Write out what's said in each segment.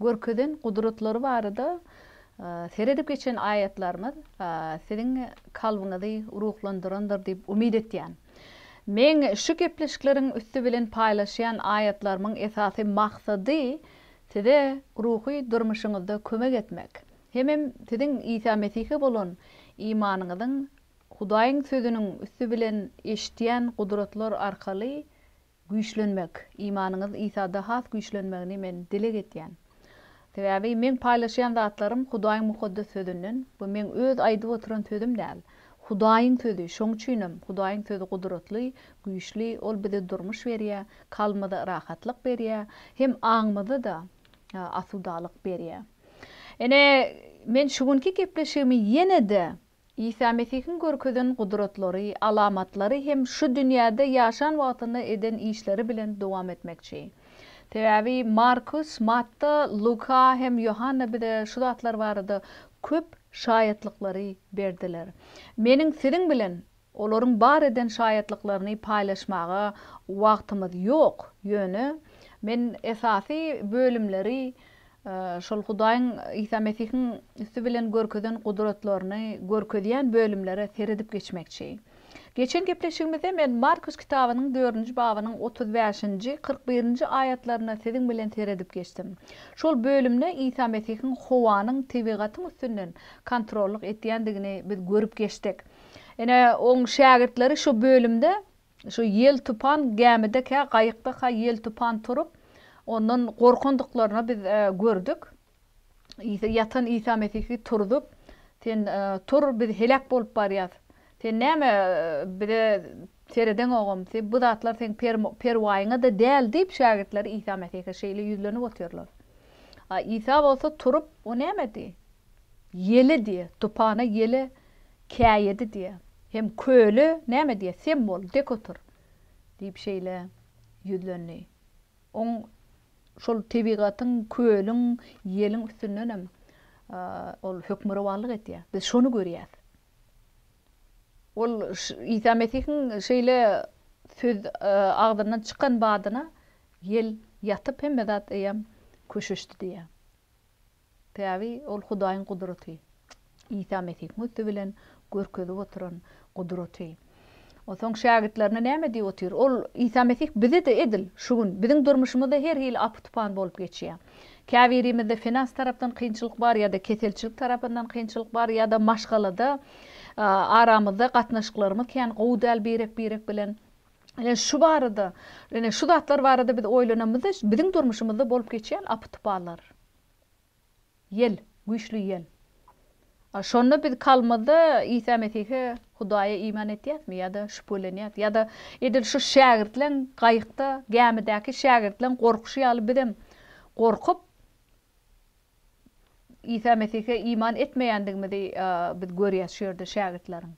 Görkezen gudratlary barada seredip geçen aýatlarymyz siziň kalbyňyzy ruhlandyrandyr diýip umyt etýän. Meň şu gepleşikleriň üsti bilen paýlaşýan aýatlarymyň esasy maksady size ruhy durmuşyňyzda kömek etmek, hemem siziň Isa Mesihe bolan imanyňyzyň Hudaýyň sözüniň üsti bilen eşitýän gudratlar arkaly Güýçlenmek, imanyňyz Isada has güýçlenmegini men dileg etýän. Sebäbi meň paýlaşýan zatlarym Hudaýyň mukaddes sözünden, bu meň öz aýdyp oturan sözüm däl, Hudaýyň sözi, şoň üçinem Hudaýyň sözi gudratly, güýçli, ol bize durmuş berýä, kalbymyza rahatlyk berýä, hem aňymyza da asudalyk berýä. Ine, men şu günki gepleşigimi ýene-de Isa Mesihiň görkezen gudratlary, alamatlary hem şu dünýäde ýaşan wagtynda eden işleri bilen dowam etmekçi. Sebäbi Markus, Matta, Luka hem Ýohanna bize şu zatlar barada köp şaýatlyklary berdiler. Meniň siziň bilen Olaryň bar eden şaýatlyklaryny paýlaşmaga wagtymyz ýok, ýöne men esasy bölümleri, şol Hudaýyň Isa Mesihiň üsti bilen görkezen gudratlaryny görkezýän bölümlere seredip geçmekçi. Geçen gepleşigimizde men Markus kitabynyň dördünji babynyň otuz bäşinji, kyrk birinji aýatlaryna siziň bilen seredip geçdim. Şol bölümde Isa Mesihiň howanyň tebigatyň üstünden kontrollyk etýändigini biz görüp geçdik. Ine, oň şägirtleri şu bölümde şu ýel-tupan gämide kä gaýykda kä ýel-tupan turup, ondan gorkandyklaryny biz gördük. Isa ýatan Isa Mesihi turzup, Sen tur, biz heläk bolup barýas. Sen näme bize seredeňogam, sen bu zatlar seň perwaýyňa-da däl diýip şägirtleri Isa Mesihe şeýle ýüzlenip otyrlar. A Isa bolsa turup, o nämedi? Ýele diýe, tupana ýele käýedi diýe. Hem köle näme diýe, sen bol, dek otur, diýip şeýle ýüzlendi. Oň şol tebigatyň, kölüň, ýeliň üstündenem ol hökmürowanlyk edýär. Biz şony görýäs. Ol Isa Mesihiň şeýle söz agzyndan çykan badyna ýel ýatyp hemme zat eýýäm köşeşdi diýýär. Sebäbi ol Hudaýyň gudraty. Isa Mesihiň üsti bilen görkezip oturan gudraty. Onsoň şägirtlerine näme diýip otyr? Ol, Isa Mesih bize-de edil şu gün, biziň durmuşymyzda her hili apy-tupan bolup geçýär. Käbirimizde finans tarapdan kynçylyk bar ýa-da keselçilik tarapyndan kynçylyk bar ýa-da maşgalada aramyzda gatnaşyklarymyz kän gowy däl birek-birek bilen. Ine, şu barada, ine, şu zatlar barada biz oýlanamyzda, biziň durmuşymyzda bolup geçýän apy-tupanlar. Ýel, güýçli ýel. A şonda biz kalbymyzda Isa Mesihe, Hudaýa iman etýäsmi ýa-da şübhelenýäs? Ýa-da edil şu şägirtleň gaýykda, gämidäki şägirtleň gorkuşy ýaly bizem gorkup, Isa Mesihe iman etmeýändigimizi biz görýäs şu ýerde şägirtleriň.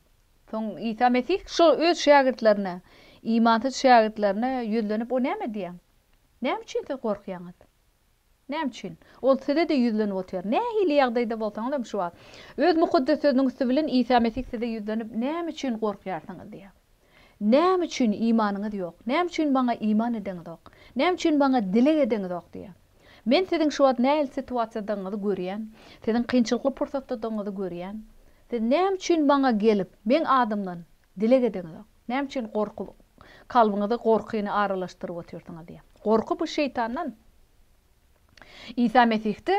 Soň Isa Mesih şo öz şägirtlerine, imansyz şägirtlerine ýüzlenip o näme diýýär? Näme üçin siz gorkýaňyz? Näme üçin? Ol size-de ýüzlenip otyr. Nähili ýagdaýda bolsaňyzam şu wagt. Öz mukaddes sözüniň üsti bilen Isa Mesih size ýüzlenip näme üçin gorkýarsyňyz diýýär. Näme üçin imanyňyz ýok? Näme üçin Maňa iman edeňizok? Näme üçin Maňa dileg edeňizok? diýýär. Men siziň şu wagt nähili situasiýadagyňyzy görýän, siziň kynçylykly pursatdadagyňyzy görýän. Siz näme üçin Maňa gelip, Meň adymdan dileg edeňizok? Näme üçin gorky kalbyňyzy gorkyny aralaşdyryp otyrsyňyz? diýýär. Gorky bu şeýtandan. Isa Mesihde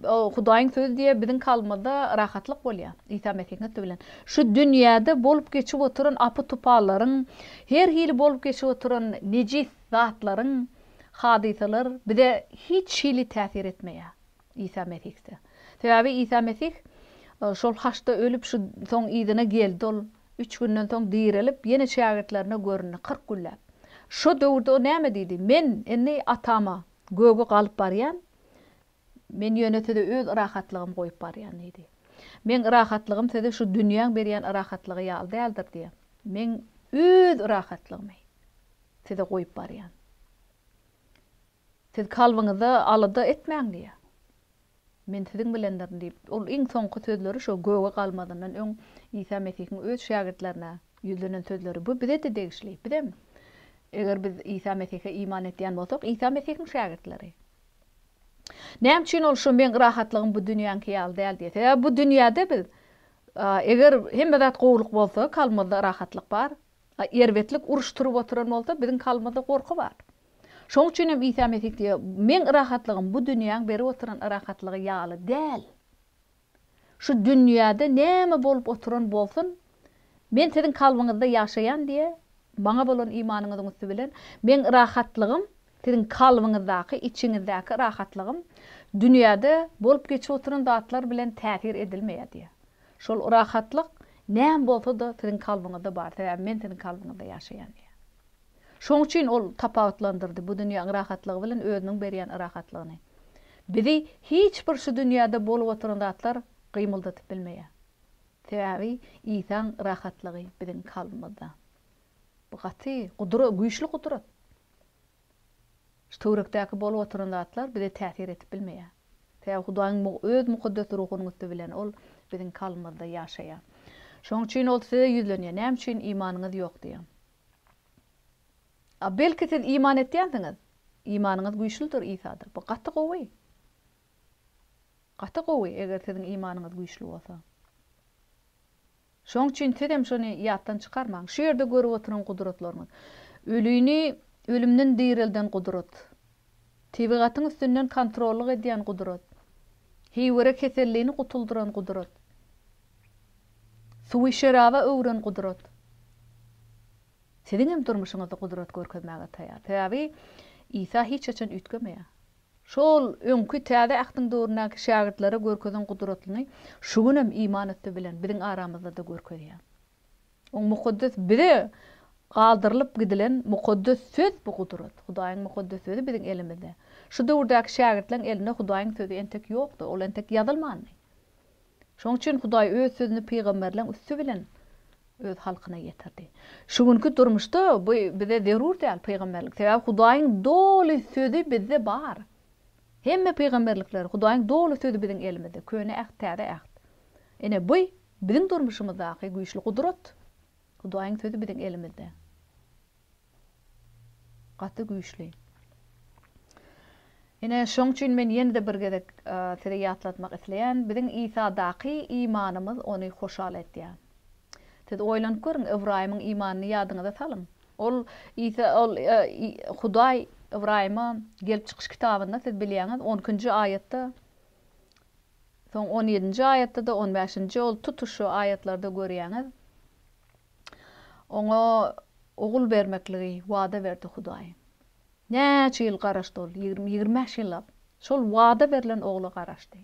Hudaýyň sözi diýe biziň kalbymyzda rahatlyk bolýar. Isa Mesihiň üsti bilen şu dünýäde bolup geçip oturan apy-tupallaryň, her hili bolup geçip oturan nejis zatlaryň, hadysalar bize hiç hili täsir etmeýär. Isa Mesihde. Sebäbi Isa Mesih şol haçda ölüp şu soň yzyna geldi ol. Üç günden soň direlip ýene şägirtlerine göründi kyrk günläp. Şo döwürde o näme diýdi? Men indi Atama. Göge galyp barýan, men ýöne size öz yrahatlygymy goýup barýan diýdi. Meň yrahatlygym size şu dünýäň berýän yrahatlygy ýaly däldir diýýän. Men öz yrahatlygymy size goýup barýan. Siz kalbyňyza alada etmäň diýýär. Men siziň bilendirin diýip, ol iň soňky sözleri şo göge galmazyndan öň Isa Mesihiň öz şägirtlerine ýüzlenen sözleri. Bu bize-de degişli. Bizem, eger biz Isa Mesihe iman etýän bolsak, Isa Mesihiň şägirtleri. Näme üçin ol şu meň rahatlygym bu dünýäňki ýaly däl diýýär? Sebäbi bu dünýäde biz, eger hemme zat gowulyk bolsa, kalbymyzda rahatlyk bar. Erbetlik, uruş turup oturan bolsa, biziň kalbymyzda gorky bar. Şoň üçin hem Isa Mesih diýýär, Meň rahatlygym bu dünýäň berip oturan rahatlygy ýaly däl. Şu dünýäde näme bolup oturan bolsun, Men siziň kalbyňyzda ýaşaýan diýe, Maňa bolan imanyňyzyň üsti bilen, Meň rahatlygym, siziň kalbyňyzdaky, içiňizdäki rahatlygym dünýäde bolup geçip oturan zatlar bilen täsir edilmeýär diýe. Şol rahatlyk näme bolsa-da siziň kalbyňyzda bar, sebäbi Men siziň kalbyňyzda ýaşaýan diýýär. Şoň üçin ol tapawutlandyrdy bu dünýäň rahatlygy bilen özüniň berýän yrahatlygyny. Bizi hiç bir şu dünýäde bolup oturan zatlar gymyldatyp bilmeýär. Sebäbi Isaň yrahatlygy biziň kalbymyzda. Bu gaty gudura, güýçli gudrat. Şu töwrekdäki bolup oturan zatlar bize täsir etip bilmeýär. Sebäbi Hudaýyň Öz Mukaddes Ruhunyň üsti bilen Ol biziň kalbymyzda ýaşaýar. Şoň üçin Ol size ýüzlenýär. Näme üçin imanyňyz ýok diýýär. A belki siz iman etýänsiňiz? Imanyňyz güýçlüdir Isada. Bu gaty gowy. Gaty gowy eger siziň imanyňyz güýçli bolsa. Şoň üçin sizem şony ýatdan çykarmaň. Şu ýerde görüp oturan gudratlaryňyz. Ölini ölümden direlden gudrat. Tebigatyň üstünden kontrollyk edýän gudrat. Hiwere kesellini gutuldyran gudrat. Suwy şeraba öwren gudrat. Siziňem durmuşyňyzda gudrat görkezmäge taýar. Sebäbi Isa hiç haçan üýtgemeýär. Şol öňki Täze Ähtiň döwründäki şägirtlere görkezen gudratlyny şu günem iman üsti bilen biziň aramyzda-da görkezýär. Oň mukaddes bize galdyrylyp gidilen mukaddes söz bu gudrat. Hudaýyň mukaddes sözi biziň elimizde. Şu döwürdäki şägirtleriň elinde Hudaýyň sözi entek ýokdy, ol entek ýazylmandy. Şoň üçin Hudaý öz sözüni pygamberleriň üsti bilen öz halkyna ýetirdi. Şu günki durmuşda bu bize zerur däl pygamberlik. Sebäbi Hudaýyň doly sözi bizde bar. Hemme pygamberlikler, Hudaýyň doly sözi biziň elimizde, Köne Äht, Täze Äht. Ine bu Biziň durmuşymyzdaky güýçli gudrat, Hudaýyň sözi biziň elimizde. Gaty güýçli. Ine, şoň üçin men ýene-de bir gezek size ýatlatmak isleýän, biziň Isadaky imanymyz ony hoşal edýär. Siz oýlanyp görüň, Ybraýymyň imanyny ýadyňyza salyň. Ol Isa, ol Hudaý Ybraýyma gelip çykyş kitabynda siz bilýäňiz, on ikinji aýatda Soň on ýedinji aýatda-da, on bäşinji ol tutuş şu aýatlarda görýäňiz, oňa ogul bermekligi wada berdi Hudaý. Näçe ýyl garaşdy ol? Ýigrimi, ýigrimi bäş ýyllap şol wada berlen ogla garaşdy.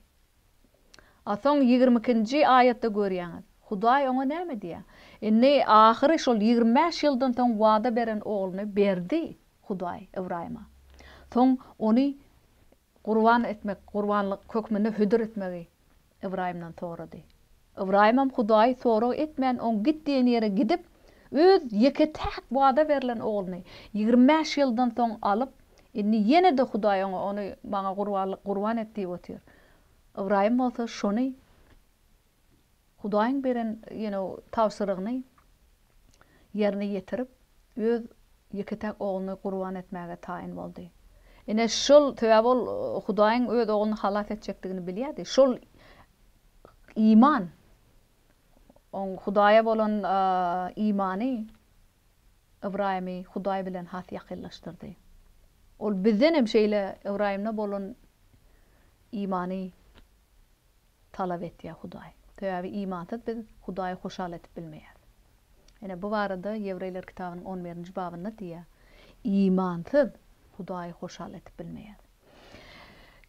A soň ýigrimi ikinji aýatda görýäňiz, Hudaý oňa näme diýýär? Indi ahyry şol ýigrimi bäş ýyldan soň wada beren ogluny berdi Hudaý Ybraýyma. Soň ony Gurban etmek, gurbanlyk hökmünde hödür etmegi Ybraýymdan sorady. Ybraýymam Hudaýy sorag etmän, oň git diýen ýere gidip, öz ýeke-täk wada berlen ogluny, ýigrimi bäş ýyldan soň alyp, indi ýene-de Hudaý oňa ony maňa gurbanlyk gurban et diýip otyr. Ybraýym bolsa şony. Hudaýyň beren ýene tabşyrygyny ýerine ýetirip, öz ýeke-täk ogluny gurban etmäge taýyn boldy. Ine, şol, sebäbi ol Hudaýyň öz ogluny halas etjekdigini bilýärdi. Şol iman, oň Hudaýa bolan imany Ybraýymy Hudaý bilen has ýakynlaşdyrdy. Ol bizden hem şeýle Ybraýymda bolan imany talap etýär Hudaý. Sebäbi imansyz biz Hudaýy hoşal edip bilmeýäs. Ine, bu barada Ýewreýler kitabynyň on birinji babynda diýýär, Imansyz Hudaýy hoşal edip bilmeýär.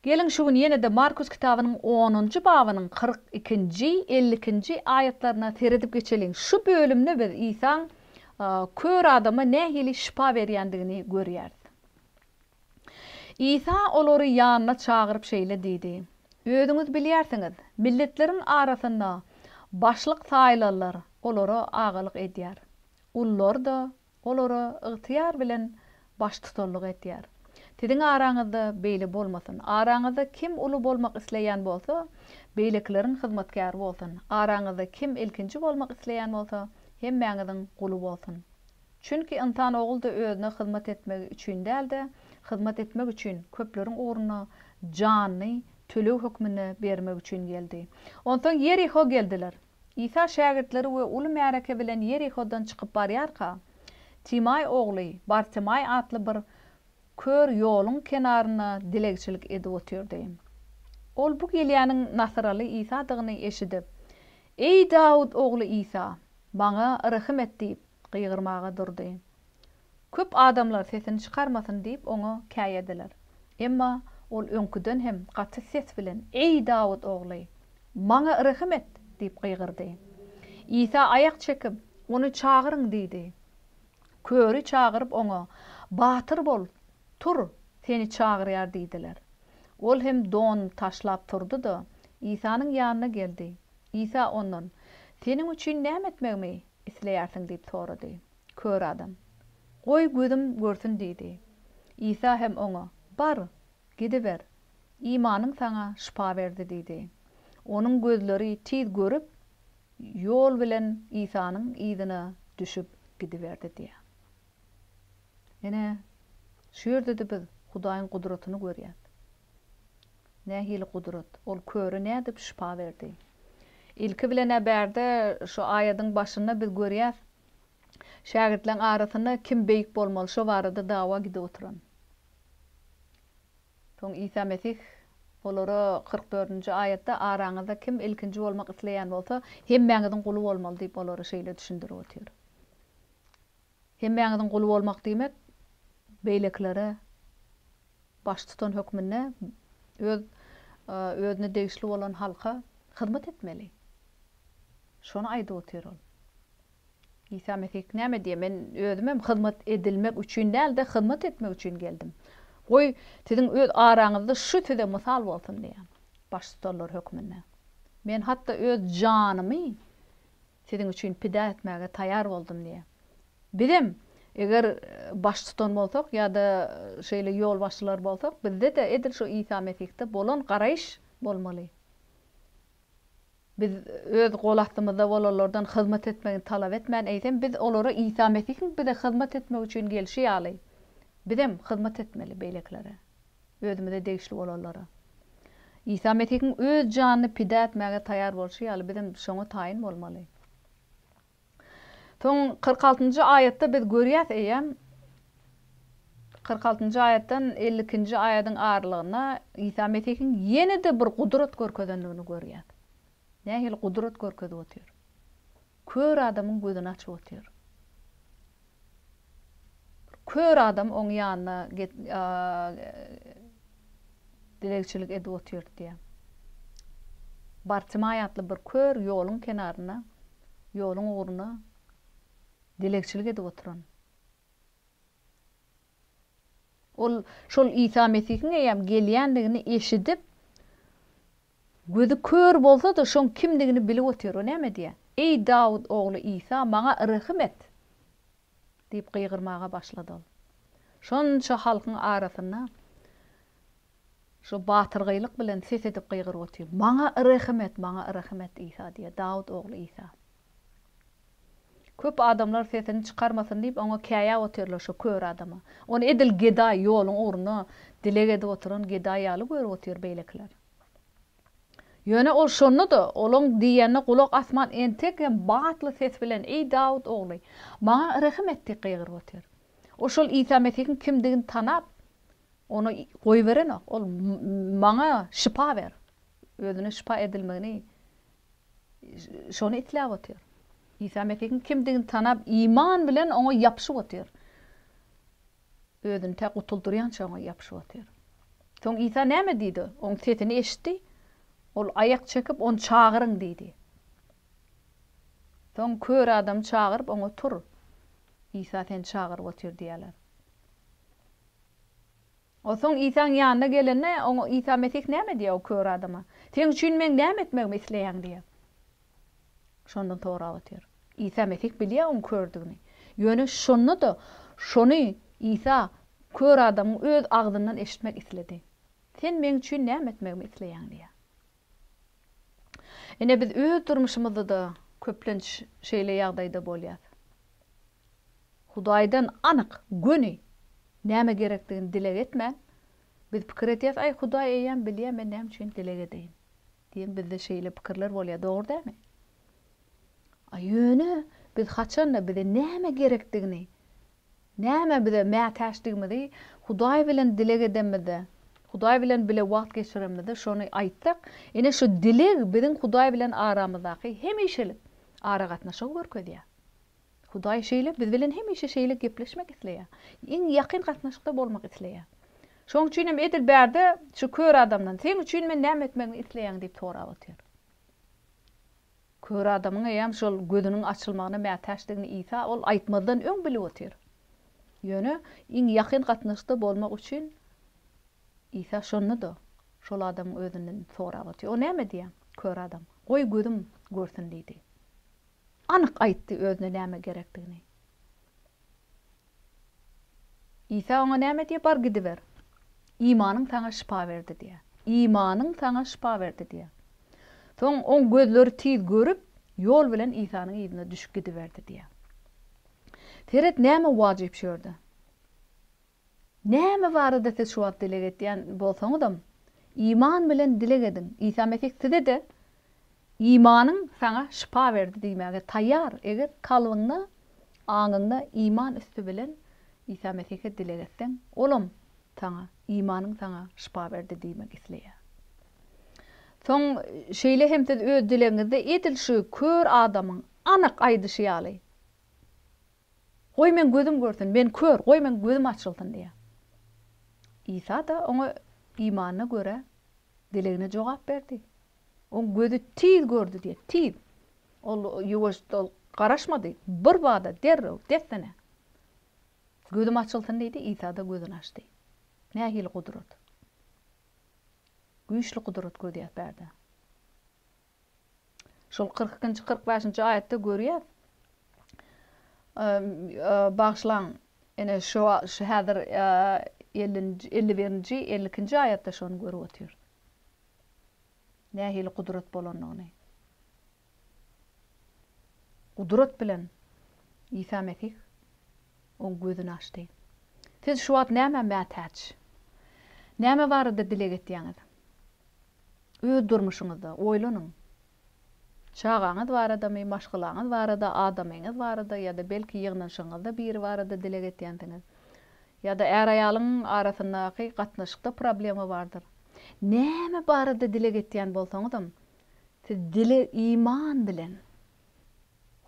Geliň, şu gün ýene-de Markus kitabynyň onunjy babynyň kyrk ikinji, elli ikinji aýatlaryna seredip geçeliň. Şu bölümde biz Isaň kör adama nähili şypa berýändigini görýäris. Isa olary ýanyna çagyryp şeýle diýdi, Özüňiz bilýärsiňiz, milletleriň arasynda başlyk saýlanlar olara agalyk edýär, gullar-da olara ygtyýar bilen baştutanlyk edýär. Siziň araňyzda beýle bolmasyn. Araňyzda kim uly bolmak isleýän bolsa, beýlekileriň hyzmatkäri bolsun. Araňyzda kim ilkinji bolmak isleýän bolsa, hemmäňiziň guly bolsun. Çünki ynsan ogul-da özüne hyzmat etmegi üçin däl-de, hyzmat etmek üçin, köpleriň ugruna janyny töleg hökmünde bermek üçin geldi. Onsoň Ýeriho geldiler. Isa şägirtleri we uly märeke bilen Ýerihodan çykyp barýarka, Timaý ogly Bartimaý atly bir kör ýoluň kenarynda dilegçilik edip otyrdy. Ol bu gelýäniň nasyraly Isadygyny eşidip, Eý, Dawut ogly Isa, maňa rehim et diýip, gygyrmaga durdy. Köp adamlar sesini çykarmasyn diýip oňa käýediler. Emma ol öňküden hem gaty ses bilen, Eý, Dawut ogly! Maňa rehim et! diýip gygyrdy. Isa aýak çekip, Ony çagyryň! diýdi. Köri çagyryp oňa, Batyr bol, tur, seni çagyrýar diýdiler. Ol hem donuny taşlap turdy-da, Isanyň ýanyna geldi. Isa ondan, Seniň üçin näme etmegimi isleýärsiň? diýip sorady. Kör adam, Goý, gözüm görsün diýdi. Isa hem oňa, Bar, gidiber, imanyň saňa şypa berdi diýdi. Onuň gözleri tiz görüp, ýol bilen Isanyň yzyna düşüp gidiberdi diýýär. Ine, şu ýerde-de biz Hudaýyň gudratyny görýäs. Nähili gudrat? Ol köre nädip şypa berdi? Ilki bilen-ä bärde şu aýadyň başynda biz görýäs, şägirtleň arasynda kim beýik bolmaly şo barada dawa gidip oturan. Soň Isa Mesih olara kyrk dördünji aýatda araňyzda kim ilkinji bolmak isleýän bolsa, hemmäňiziň guly bolmaly diýip olara şeýle düşündirip otyr. Hemmäňiziň guly bolmak diýmek, beýlekilere baş tutan hökmünde öz özüne degişli bolan halka hyzmat etmeli. Şony aýdyp otyr ol. Isa Mesih näme diýýär? Men özümem hyzmat edilmek üçin däl-de, hyzmat etmek üçin geldim. Goý, siziň öz araňyzda şu size mysal bolsun diýýär, baştutanlar hökmünde. Men hatda öz janymy Siziň üçin pida etmäge taýar boldum diýýär. Bizem, eger baştutan bolsak ýa-da şeýle ýolbaşçylar bolsak, bizde-de edil şu Isa Mesihde bolan garaýyş bolmaly. Biz öz gol astymyzda bolanlardan hyzmat etmegini talap etmän, eýsem, biz olara Isa Mesihiň bize hyzmat etmek üçin gelşi ýaly, bizem hyzmat etmeli beýlekilere. özümize degişli bolanlara. Isa Mesihiň öz janyny pida etmäge taýýar bolşy ýaly, bizem şoňa taýyn bolmaly. Soň kyrk altynjy aýatda biz görýäs eýýäm, kyrk altynjy aýatdan elli ikinji aýadyň aralygynda Isa Mesihiň ýene-de bir gudrat görkezendigini görýäs. Nähili gudrat görkezip otyr? Kör adamyň gözüni açyp otyr. Bir kör adam oň ýanyna get dilegçilik edip otyr diýýär. Bartimaý atly bir kör ýoluň kenarynda, ýoluň ugruna dilegçilik edip oturan. Ol şol Isa Mesihiň eýýäm gelýändigini eşidip, Gözi kör bolsa-da, şoň kimdigini bilip otyr. O näme diýýä? Eý, Dawut ogly Isa, maňa rehim et! diýip gygyrmaga başlady ol. Şonça halkyň arasynda şo batyrgaýlyk bilen ses edip gygyryp otyr. Maňa rehim et, maňa rehim et, Isa diýýä, Dawut ogly Isa! Köp adamlar sesini çykarmasyn diýip, oňa käýäp otyrlar şo kör adama. Ony edil gedaý, ýoluň ugruna dileg edip oturan gedaý ýaly görüp otyr beýlekiler. Ýöne ol şonda-da, olaň diýenine gulak asman entek hem batly ses bilen, Eý, Dawut ogly, maňa rehim et diýip gygyryp otyr. Ol şol Isa Mesihiň kimdigini tanap, ony goýberenok. Ol, Maňa şypa ber. Özüne şypa edilmegini şony isläp otyr. Isa Mesihiň kimdigini tanap, iman bilen oňa ýapyşyp otyr. Özüni tä gutuldyrýança oňa ýapyşyp otyr. Soň Isa näme diýdi? Oň sesini eşitdi. Ol aýak çekip, ony çagyryň diýdi. Soň kör adamy çagyryp, oňa tur. Isa seni çagyryp otyr diýýärler. Onsoň Isaň ýanyna gelende, oňa Isa Mesih näme diýýär o kör adama? Seň üçin meň näme etmegimi isleýäň? diýýär. Şondan sorap otyr. Isa Mesih bilýär oň kördigini. Ýöne şonda-da şony Isa kör adamyň öz agzyndan eşitmek isledi. Sen meň üçin näme etmegimi isleýäň? diýýär. Ine biz öz durmuşymyzda-da köplenç şeýle ýagdaýda bolýas. Hudaýdan anyk, göni näme gerekdigini dileg etmän, biz pikir edýäs, Aý, Hudaý eýýäm bilýär, men näme üçin dileg edeýin? diýen bizde şeýle pikirler bolýar, dogry dälmi? A ýöne biz haçan-da bize näme gerekdigini Näme bize mätäçdigimizi Hudaý bilen dileg edemizde, Hudaý bilen bile wagt geçiremizde şony aýtsak, ine şu dileg biziň Hudaý bilen aramyzdaky hemişelik aragatnaşygy görkezýär. Hudaý şeýle biz bilen hemişe şeýle gepleşmek isleýär. Iň ýakyn gatnaşykda bolmak isleýär. Şoň üçin hem edil bärde şu kör adamdan, Seň üçin men näme etmegimi isleýäň? diýip sorap otyr. Kör adamyň eýýäm şol gözüniň açylmagyna mätäçdigini Isa ol aýtmazdan öň bilip otyr. Ýöne iň ýakyn gatnaşykda bolmak üçin Isa şonda-da şol adamyň özünden sorap otyr. O näme diýýär? Kör adam, Goý, gözüm görsün diýdi. Anyk aýtdy özüne näme gerekdigini. Isa oňa näme diýýär? Bar gidiber. Imanyň saňa şypa berdi diýýär. Imanyň saňa şypa berdi diýýär. Soň oň gözleri tiz görüp, ýol bilen Isanyň yzyna düşüp gidiberdi diýýär. Seret näme wajyp şu ýerde. Näme barada siz şu wagt dileg etýän bolsaňyzam, iman bilen dileg ediň. Isa Mesih size-de, Imanyň saňa şypa berdi diýmäge taýýar, eger kalbyňda, aňyňda iman üsti bilen Isa Mesihe dileg etseň, Olam saňa, imanyň saňa şypa berdi diýmek isleýär. Soň şeýle hem siz öz dilegiňizde edil şu kör adamyň anyk aýdyşy ýaly Goý, meň gözüm görsün, men kör, goý, meň gözüm açylsyn diýýär. Isa-da oňa imanyna görä dilegine jogap berdi. Oň gözi tiz gördi diýýär, tiz. Ol ýuwaşdyl garaşmady, birbada, derrew, dessine, Gözüm açylsyn diýdi, Isa-da gözüni açdy. Nähili gudrat! Güýçli gudrat göz ýapýar-da. Şol kyrk ikinji, kyrk bäşinji aýatda görýäs. Bagyşlaň, ene şu şu häzir ellinji, elli birinji, elli ikinji aýatda şony görüp otyrys. Nähili gudrat bolandygyny. Gudrat bilen Isa Mesih oň gözüni açdy. Siz şu wagt nämä mätäç? Näme barada dileg etýäňiz? Öz durmuşyňyzda, oýlanyň. Çagaňyz baradamy, maşgalaňyz barada, adamyňyz barada ýa-da belki ýygnanyşygyňyzda biri barada dileg etýänsiňiz. Ýa-da är-aýalyň arasyndaky gatnaşykda problema bardyr. Näme barada dileg etýän bolsaňyzam, siz dile iman bilen,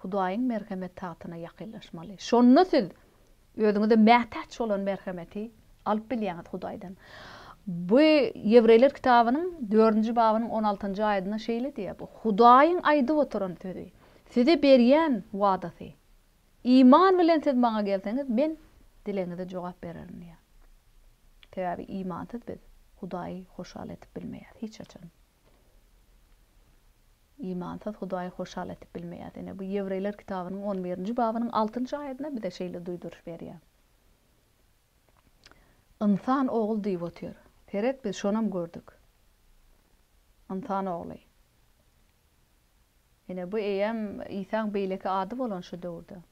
Hudaýyň merhemet tagtyna ýakynlaşmaly. Şonda siz özüňize mätäç bolan merhemeti alyp bilýäňiz Hudaýdan. Bu Ýewreýler kitabynyň dördünji babynyň on altynjy aýadynda şeýle diýýär, bu Hudaýyň aýdyp oturan sözi, size berýän wadasy. Iman bilen siz maňa gelseňiz, men dilegiňize jogap bererin diýýär. Sebäbi imansyz biz Hudaýy hoşal edip bilmeýäris hiç haçan. Imansyz Hudaýy hoşal etip bilmeýär. Ine, bu Ýewreýler kitabynyň on birinji babynyň altynjy aýatynda bize şeýle duýduryş berýär. Ynsan ogul diýip otyr. Seret, biz şonam gördük. Ynsan ogly. Ine, bu eýýäm Isaň beýleki ady bolan şu döwürde.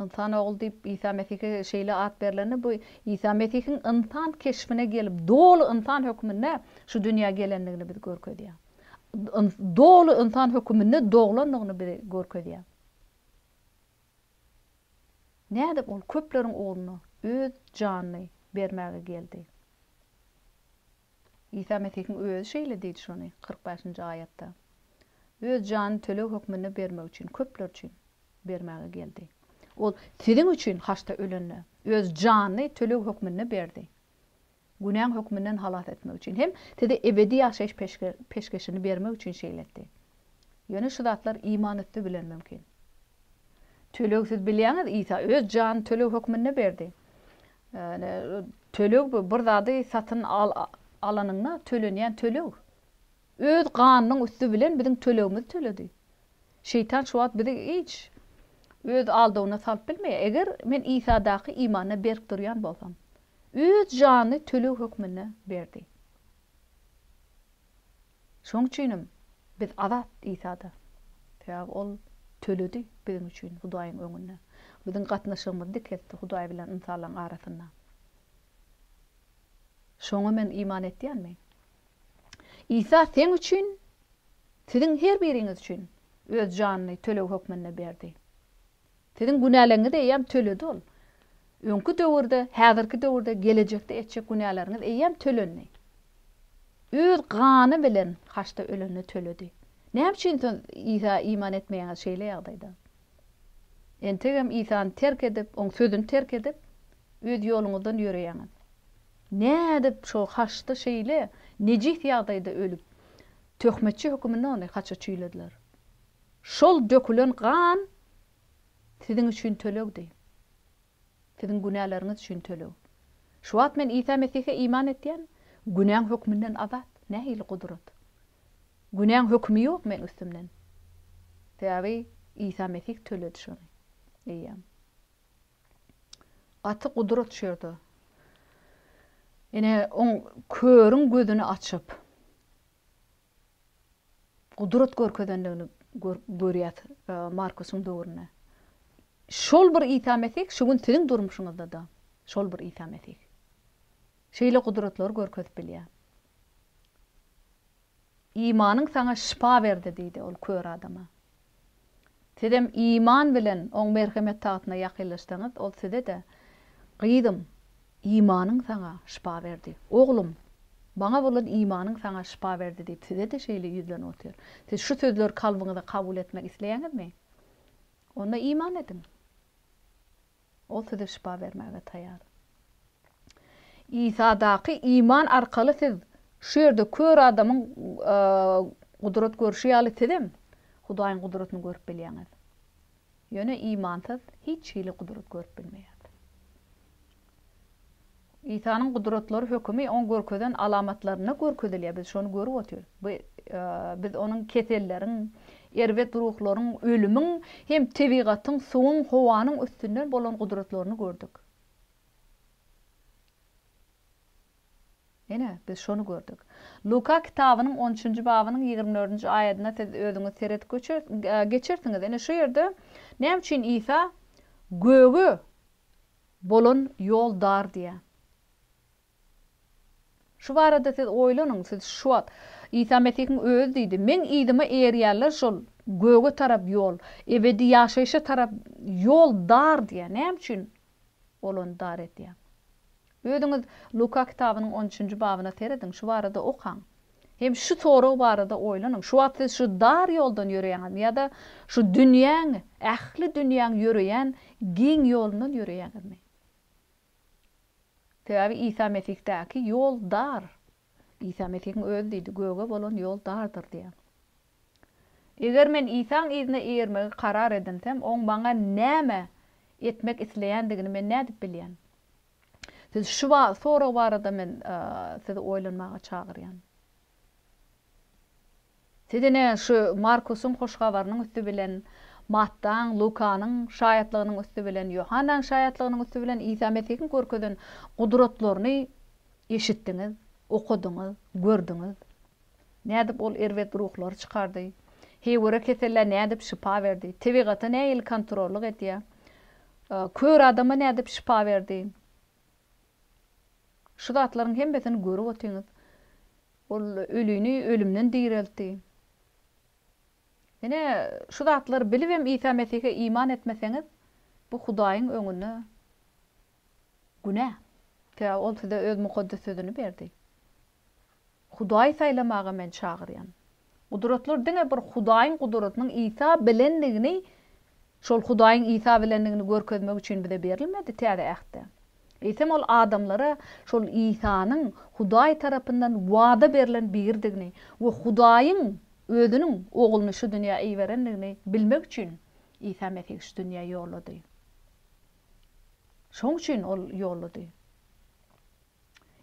Ynsan ogly diýip Isa Mesihe şeýle at berlende bu Isa Mesihiň ynsan keşbine gelip doly ynsan hökmünde şu dünýä gelendigini biz görkezýär. Doly ynsan höküminde doglandygyny bize görkezýär. Nädip ol köpleriň ugrunda öz janyny bermäge geldi? Isa Mesihiň Özi şeýle diýdi şony, kyrk bäşinji aýatda. Öz janyny töleg hökmünde bermek üçin, köpler üçin, bermäge geldi. Ol siziň üçin haçda ölende, Öz janyny töleg hökmünde berdi. Günäň hökmünden halas etmek üçin hem size ebedi ýaşaýyş peşgeşini bermek üçin şeýle etdi. Ýöne şu zatlar iman üsti bilen mümkin. Töleg siz bilýäňiz, Isa Öz janyny töleg hökmünde berdi. Ýagny töleg bu bir zady satyn alanyňda tölenýän töleg. Öz ganynyň üsti bilen biziň tölegimizi töledi. Şeýtan şu wagt bizi hiç öz aldawyna salyp bilmeýär. Eger men Isadaky imanda berk durýan bolsam. Öz janyny töleg hökmünde berdi. Şoň üçinem biz azat Isada. Sebäbi Ol töledi biziň üçin Hudaýyň öňünde. Biziň gatnaşygymyzy dikeltdi Hudaý bilen ynsanlaryň arasynda. Şoňa men iman etýänmi? Isa seň üçin, siziň her biriňiz üçin Öz janyny töleg hökmünde berdi. Siziň günäleriňizi eýýäm töledi ol. Öňki döwürde, häzirki döwürde, gelejekde etjek günäleriňiz eýýäm tölendi. Öz gany bilen haçda ölende töledi. Näme üçin siz Isa iman etmeýäňiz şeýle ýagdaýda? Entegem Isany terk edip, oň sözüni terk edip, öz ýoluňyzdan ýöreýäňiz. Nädip şo haçda şeýle nejis ýagdaýda ölüp, töhmetçi höküminde ony haça çüýlediler? Şol dökülen gan siziň üçin tölegdi. Siziň günäleriňiz üçin töleg. Şu wagt men Isa Mesihe iman etýän, günäň hökmünden azat. Nähili gudrat! Günäň hökümi ýok meň üstümden. Sebäbi Isa Mesih töledi şony. Eýýäm. Gaty gudrat şu ýerde. Ine, oň körüň gözüni açyp. gudrat görkezendigini görýäs Markusyň döwründe. Şol bir Isa Mesih şu gün siziň durmuşyňyzda-da şol bir Isa Mesih. Şeýle gudratlary görkezip bilýär. Imanyň saňa şypa berdi diýdi ol kör adama. Sizem iman bilen Oň merhemet tagtyna ýakynlaşsaňyz, Ol size-de, Gyzym, imanyň saňa şypa berdi. Oglum, Maňa bolan imanyň saňa şypa berdi diýip, size-de şeýle ýüzlenip otyr. Siz şu sözleri kalbyňyza kabul etmek isleýäňizmi? Onda iman ediň. Ol size şypa bermäge taýýar. Isadaky iman arkaly siz şu ýerde kör adamyň gudrat görşi ýaly sizem Hudaýyň gudratyny görüp bilýäňiz. Ýöne imansyz hiç hili gudrat görüp bilmeýär. Isanyň gudratlary hökümi oň görkezen alamatlarynda görkezilýär biz şony görüp otyrys. Bu biz onuň keselleriň, erbet ruhlaryň, ölümiň hem tebigatyň, suwuň, howanyň üstünden bolan gudratlaryny gördük. Ine, biz şony gördük. Luka kitabynyň on üçünji babynyň ýigrimi dördünji aýadyna siz özüňiz seredip geçersiňiz. Ine şu ýerde näme üçin Isa göge Bolan ýol dar diýýä. Şu barada siz oýlanyň, siz şu wagt, Isa Mesihiň özi diýdi, Meň yzyma eýerýänler şol göge tarap ýol, ebedi ýaşaýşa tarap ýol dar diýýä. Näme üçin olany dar edýäň? Özüňiz Luka kitabynyň on üçünji babyna serediň, şu barada okaň. Hem şu sorag barada oýlanyň, şu wagt siz şu dar ýoldan ýöreýäňizmi ýa-da şu dünýäň, ähli dünýäň ýöreýän giň ýolundan ýöreýäňizmi? Sebäbi Isa Mesihdaky ýol dar. Isa Mesihiň özi diýdi, Göge bolan ýol dardyr diýen. Eger men Isaň yzyna eýermegi karar edinsem, oň maňa näme etmek isleýändigini men nädip bilýän? Siz şu sorag barada men sizi oýlanmaga çagyrýan. Siz ine şu Markusyň hoş habarynyň üsti bilen, Mattaň, Lukanyň şaýatlygynyň üsti bilen, Ýohannaň şaýatlygynyň üsti bilen Isa Mesihiň görkezen gudratlaryny eşitdiňiz, okadyňyz, gördüňiz. Nädip ol erbet ruhlary çykardy? Heýwere kesellä nädip şypa berdi? Tebigata nähili kontrollyk edýär? Kör adama nädip şypa berdi? Şu zatlaryň hemmesini görüp otyňyz. Ol ölini ölümden direltdi. Ine, şu zatlary bilibem Isa Mesihe iman etmeseňiz, bu Hudaýyň öňünde günä. Sebäbi ol size öz mukaddes sözüni berdi. Hudaýy saýlamaga men çagyrýan. Gudratlar diňe bir Hudaýyň gudratynyň Isa bilendigini, şol Hudaýyň Isa bilendigini görkezmek üçin bize berilmedi, Täze Ähtde. Eýsem ol adamlara şol Isanyň Hudaý tarapyndan wada berlen Birdigini we Hudaýyň Özüniň Ogluny şu dünýä iberendigini bilmek üçin Isa Mesih şu dünýä ýollady. Şoň üçin ol ýollady.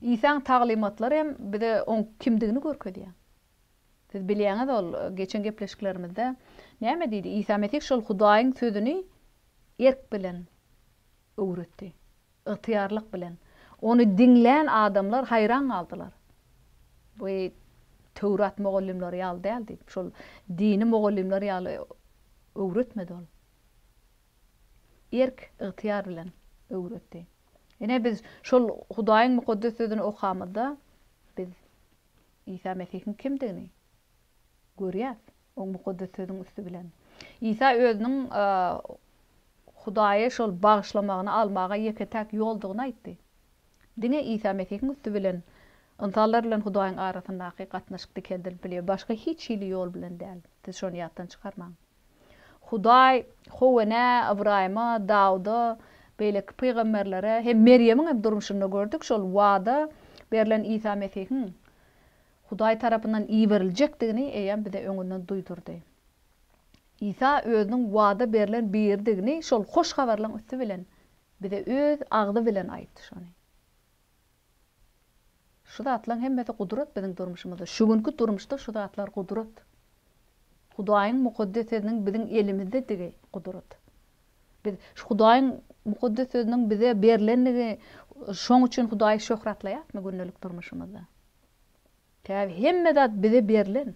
Isaň taglymatlary hem bize oň kimdigini görkezýär. Siz bilýäňiz ol geçen gepleşiklerimizde näme diýdi? Isa Mesih şol Hudaýyň sözüni erk bilen öwretdi. Ygtyýarlyk bilen. Ony diňlän adamlar haýran galdylar. Bu Töwrat mugallymlary ýaly däl diýip, şol dini mugallymlar ýaly öwretmedi ol. Erk, ygtyýar bilen öwretdi. Ine, biz şol Hudaýyň Mukaddes Sözüni okamyzda, biz Isa Mesihiň kimdigini görýäs, oň Mukaddes Sözüň üsti bilen. Isa Özüniň Hudaýy şol bagyşlamagyny almaga ýeke-täk ýoldugyny aýtdy. Diňe Isa Mesihiň üsti bilen ynsanlar bilen Hudaýyň arasyndaky gatnaşyk dikeldilip bilýär, başga hiç hili ýol bilen däl. Siz şony ýatdan çykarmaň. Hudaý Howene, Ybraýyma, Dawuda, beýleki pygamberlere hem Merýemiň hem durmuşynda gördük, şol wada berlen Isa Mesihiň Hudaý tarapyndan iberiljekdigini eýýäm bize öňünden duýdurdy. Isa özüniň wada berlen Biridigini şol hoş habarlaryň üsti bilen bize öz agzy bilen aýtdy. Şony. Şu zatlaň hemmesi gudrat biziň durmuşymyzda. Şu günki durmuşda şu zatlar gudrat. Hudaýyň mukaddes sözüniň biziň elimizdedigi gudrat. Biz şu Hudaýyň mukaddes sözüniň bize berlendigi şoň üçin Hudaýy şöhratlaýasmy gündelik durmuşymyzda? Käbir hemme zat bize berlen,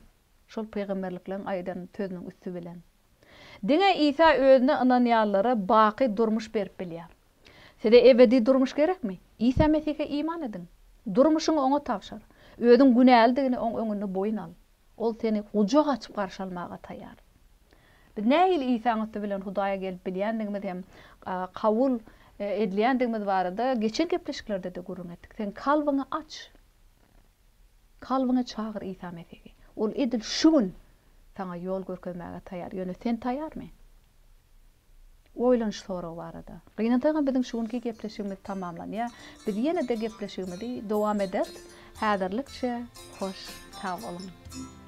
şol pygamberlikleriň aýdan sözüniň üsti bilen. Diňe Isa özüne ynanýanlara baky durmuş berip bilýär. Size ebedi durmuş gerekmi? Isa Mesihe iman ediň. Durmuşyňy oňa tabşyr. Özüň günälidigini oň öňünde boýun al. Ol seni gujak açyp garşy almaga taýýar. Biz nähili Isaň üsti bilen Hudaýa gelip bilýändigimiz hem kabul edilýändigimiz barada geçen gepleşiklerde-de gürrüň etdik. Sen kalbyňy aç. Kalbyňa çagyr Isa Mesihi. Ol edil şu gün saňa ýol görkezmäge taýýar. Ýöne sen taýýarmy? Oýlan şu sorag barada. Gynansaňam biziň şu günki gepleşigimiz tamamlanýar. Biz ýene-de gepleşigimizi dowam ederis. Häzirlikçe hoş sag boluň.